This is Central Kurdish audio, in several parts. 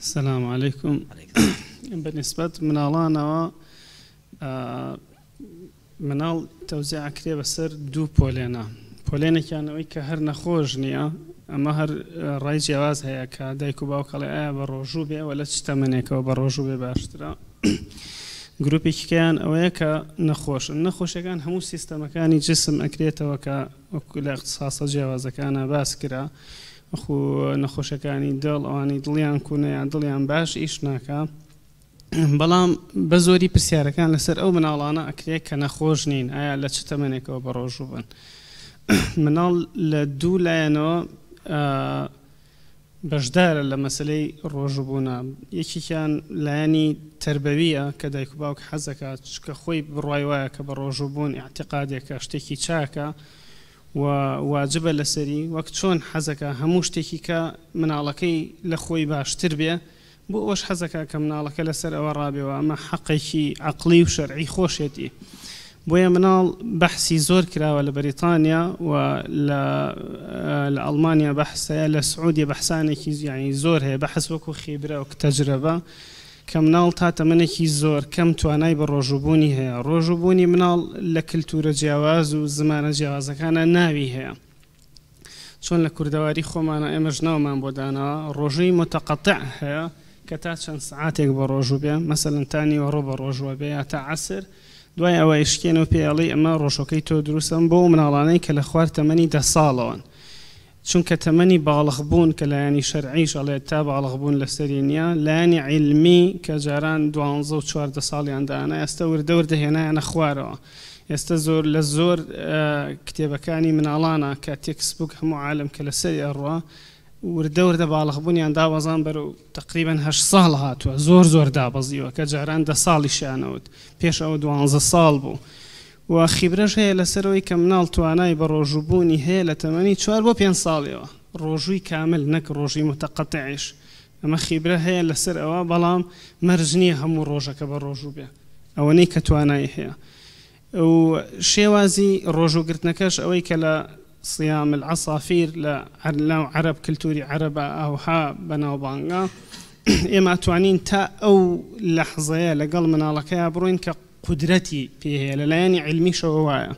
سلام علیکم بە نسبەت مناڵانەوە مناڵ تەوزێ ئەکرێ بەسەر دوو پۆلێنە پۆلێنێکیان ئەوەی کە هەر نەخۆش نییە ئەمە هەر ڕای جیاواز هەیە کە دایک و باوکەڵێ ئایا بە ڕۆژوو بێ وە لە چ تەمەنێکەوە بە ڕۆژوو بێ باشترە گروپێکیکەیان ئەوەیە کە نەخۆشن نەخۆشەکان هەموو سیستەمەکانی جسم ئەکرێتەوە کە وەکو لە اختصاصە جیاوازەکانە باس کرا وەکو نەخۆشەکانی دڵ ئەوانەی دڵیان کونە یان دڵیان باش ئیش ناکا بەڵام بەزۆری پرسیارەکان لەسەر ئەو مناڵانە ئەکرێت کە نەخۆش نین ئایا لە چ تەمەنێکەوە بەڕۆژوو بن مناڵ لە دوو لایەنەوە بەشدارە لە مەسلەی ڕۆژبوونا یەکێکیان لایەنی تربەویە کە دایک و باوک حەزەکە چکە خۆی بڕای وایە کە بە ڕۆژوو بوون اعتقادێکە شتێکی چاکە و واجبە لەسەری وەک چۆن حەزەکا هەموو شتێکی کە مناڵەکەی لە خۆی باشتر بێ بۆ ئەوەش حەزەکا کە مناڵەکە لەسەر ئەوە ڕابێ و ئەمە حەقێکی عەقڵی و شەرعی خۆشێتی بۆیە مناڵ بەحسی زۆر کراوە لە بەریتانیا و لە لە ئەڵمانیا بەحس هەیە لە سعودیە بەحسانێکی یانی زۆر هەیە بەحس وەکو خیبرە و تەجرەبە کە مناڵ تا تەمەنێکی زۆر کەم توانای بەڕۆژووبوونی هەیە، ڕۆژووبوونی مناڵ لە کلتوورە جیاواز و زمانە جیاوازەکانا ناوی هەیە، چۆن لە کوردەواری خۆمانا ئێمەش ناومان بۆ داناوە، ڕۆژووی متقطع هەیە کە تا چەند سەعاتێک بەڕۆژوو بێ، مەسەلەن تا نیوەڕۆ بەڕۆژووە بێ یا تا عەسر، دوای ئەوە ئیشکێنێ و پێی ئەڵێی ئەمە ڕۆژووەکەی تۆ دروستە، ئەمە بۆ ئەو مناڵانەی کە لە خوار تەمەنی دە ساڵەوەن. چونکە تەمەنی باڵغ بوون کە لایەنی شەرعیش ئەڵێت تا باڵغ بوون لەسەری نیە لایەنی عیلمی کە جاران دوانزە و چواردە ساڵیان دائەنا ئێستە وردە وردە هێنایانە خوارەوە ئێستە زۆر لە زۆر کتێبەکانی مناڵانە کە تێکس بووک هەموو عالم کە لەسەری ئەڕوا وردە وردە باڵغ بوونیان دابەزان بەرەو تقریبا هەشت ساڵ هاتووە زۆر زۆر دابەزیوە کە جاران دە ساڵیشیانەوت پێش ئەوە دوانزە ساڵ بوو و خیبرەش هەیە لەسەر ئەوەی کە مناڵ توانای بەڕۆژوو بوونی هەیە لە تەمەنی چوار بۆ پێنج ساڵیەوە ڕۆژووی کامل نەک ڕۆژووی متقطعیش ئەمە خیبرە هەیە لەسەر ئەوە بەڵام مەرج نیە هەموو ڕۆژەکە بەڕۆژوو بێ ئەوەنەی کە توانای هەیە و شێوازی ڕۆژوو گرتنەکەش ئەوەی کە لە صیام العصافیر لە ناو عەرەب کلتوری عەرەبە ئاوها بەناوبانگە ئێمە ئەتوانین تا ئەو لەحزەیە لەگەڵ مناڵەکەیا بڕۆین کە قودرەتی پێ هەیە لە لایەنی عیلمیشەوە وایە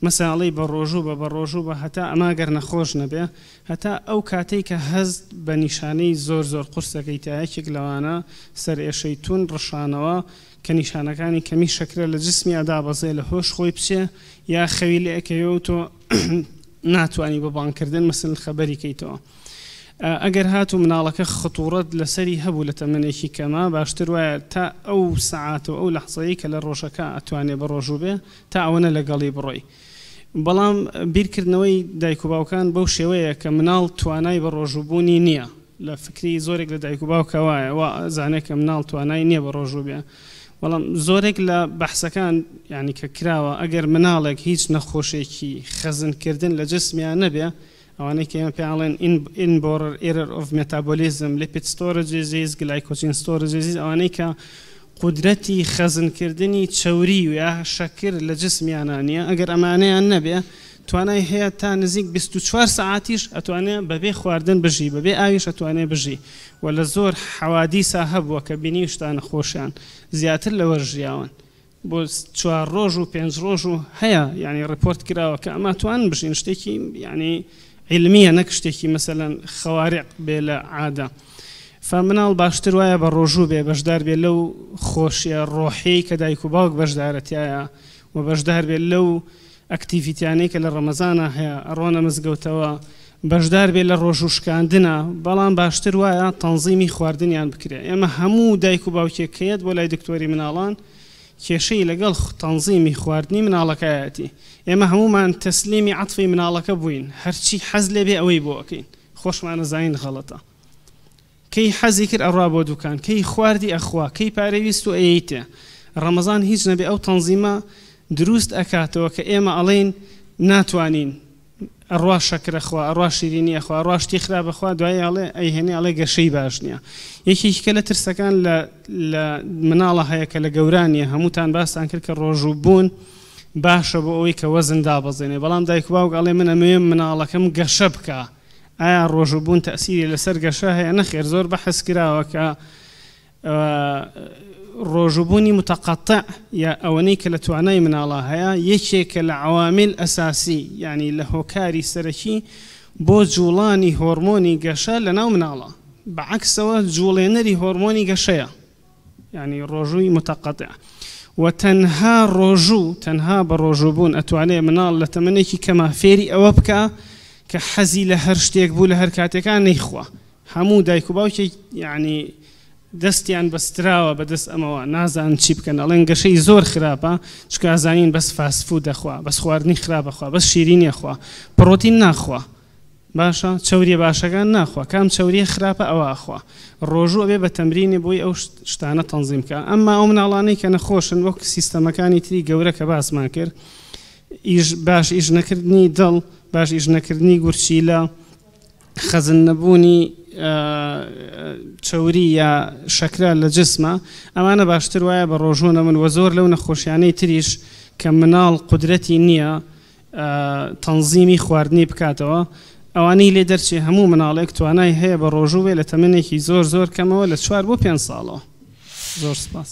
مەساڵی بە ڕۆژوو بە بە ڕۆژوو بە هەتا ئەما گەر نەخۆش نەبێ هەتا ئەو کاتەی کە هەست بە نیشانەی زۆر زۆر قورسەکەی تا یەکێک لەوانە سەرئێشەی توون ڕشانەوە کە نیشانەکانی کەمی شەکرە لە جسمیا دابەزێ لە هۆش خۆی بچێ یا خەوی لێ ئەکەوێ و تۆ ناتوانی بە بانگ کردن مەسەلەن خەبەری کەیتەوە ئەگەر هاتوو مناڵەکە خطوڕەت لەسەری هەبوو لە تەمەنێکی کەما باشتر وایە تا ئەو سەعات و ئەو لەحزەیەی کە لە ڕۆژەکە ئەتوانێ بەڕۆژوو بێ تا ئەوەنە لەگەڵی بڕۆی بەڵام بیرکردنەوەی دایک و باوکان بەو شێوەیە کە مناڵ توانای بەڕۆژوو بوونی نیە لە فکری زۆرێک لە دایک و باوکە وایە وا ئەزانێ کە مناڵ توانای نیە بەڕۆژوو بێ بەڵام زۆرێک لە بەحسەکان یانی کە کراوە ئەگەر مناڵێک هیچ نەخۆشێکی خەزنکردن لە جسمیان نەبێ ئەوانەی کە ئێمە پێیان ئەڵێن Inborer Error of Metabolism Lipid Storage Disease Glycogen Storage Disease ئەوانەی کە قودرەتی خەزنکردنی چەوری یا شەکر لە جسمیانە نییە ئەگەر ئەمانەیان نەبێ توانای هەیە تا نزیک 24 سەعاتیش ئەتوانێ بەبێ خواردن بژی بەبێ ئاویش ئەتوانێ بژی و لە زۆر حەوادیسا هەبووە کە بینیوشتانە خۆشیان زیاتر لەوە ژیاون بۆ چوار ڕۆژ و پێنج ڕۆژ و هەیە یعنی ڕپۆرت کراوە کە ئەما توان بژین شتێکی یعنی علمیە نەک شتێکی مەسەەن خەوارق بێ لە عادە فمناڵ باشتر وایە بە ڕۆژوو بێ بەشدار بێ لەو خۆشیە ڕۆحەی کە دایک و باوک بەشدارەتایە و بەشدار بێت لەو ئەکتیڤیتیانەی کە لە ڕەمەزانا هەیە ئەڕۆنە مزگەوتەوە بەشدار بێت لە ڕۆژوو شکاندنا بەڵام باشتر وایە تەنزیمی خواردنیان بکرێت ئێمە هەموو دایک و باوکێک کە یەت بۆ لای دکتۆری مناڵان کێشەی لەگەڵ تەنزیمی خواردنی مناڵەکەیەتی ئێمە هەموومان تەسلیمی عەتفی مناڵەکە بووین هەرچی حەز لێبێ ئەوەی بۆ ئەکەین خۆشمانەزانین غەڵەتە کەی حەزی کرد ئەڕا بۆ دوکان کەی خواردی ئەخوا کەی پارەی ویست و ئەیەیتێ ڕەمەزان هیچ نەبێ ئەو تەنزیمە دروست ئەکاتەوە کە ئێمە ئەڵێین ناتوانین ئەڕا شەکر ئەخوا ئەڕا شیرینی ئەخوا ئەڕا شتی خراپ ئەخوا دوایی ئەڵێ ئەیهێنێ ئەڵێ گەشەی باش نیە یەکێکی کە لە ترسەکان لە لە مناڵە هەیە کە لە گەوران نیە هەمووتان باستان کرد کە ڕۆژوو بوون باشە بۆ ئەوەی کە وەزن دابەزێنێ بەڵام دایک باوک ئەڵێ من ئەمەوێ مناڵەکەم گەشە بکا ئایا ڕۆژوو بوون تەئسیری لەسەر گەشە هەیە؟ نەخێر زۆر بەحس کراوە کە ڕۆژوو بوونی متقطع یا ئەوەنەی کە لە توانای مناڵە هەیە یەکێکە لە عوامل ئەساسی یعنی لە هۆکاری سەرەکی بۆ جوڵانی هۆرمۆنی گەشە لەناو مناڵە بەعەکسەوە جوڵێنەری هۆرمۆنی گەشەیە یانی ڕۆژووی متقطع و تەنها ڕۆژوو تەنها بە ڕۆژوو بوون ئەتوانێ مناڵ لە تەمەنێکی کەما فێری ئەوە بکە کە حەزی لە هەر شتێک بوو لە هەر کاتێکان نەیخوا هەموو دایک و باوکی یعنی دەستیان بەستراوە بەدەست ئەمەوە نازان چی بکەن ئەڵێن گەشەی زۆر خراپە چکازانین بەس فاسفو دەخوا بەس خواردنی خراپەخوا بەس شیرینیەخوا پڕۆتین ناخوا باشە چەوریە باشەکان ناخوا کام چەوریە خراپە ئەوە ئەخوا ڕۆژوو ئەبێ بە تەمرینێ بۆی ئەو شتانە تەنزیم بکا ئەمما ئەو مناڵانەی کە نەخۆشن وەک سیستەمەکانی تری گەورە کە باسمان کرد ئیش باش ئیش نەکردنی دڵ باش ئیش نەکردنی گورچیلە خەزن نەبوونی چەوری یا شەکرا لە جسمە ئەمانە باشتر وایە بە ڕۆژوو نەمن وە زۆر لەو نەخۆشیانەی تریش کە مناڵ قدرەتی نییە تەنزیمی خواردنی بکاتەوە، ئەوانەی لێ دەرچێ هەموو مناڵێک توانای هەیە بە ڕۆژوو بێ لە تەمەنێکی زۆر زۆر کەمەوە لە چوار بۆ پێنج ساڵەوە. زۆر سپاس.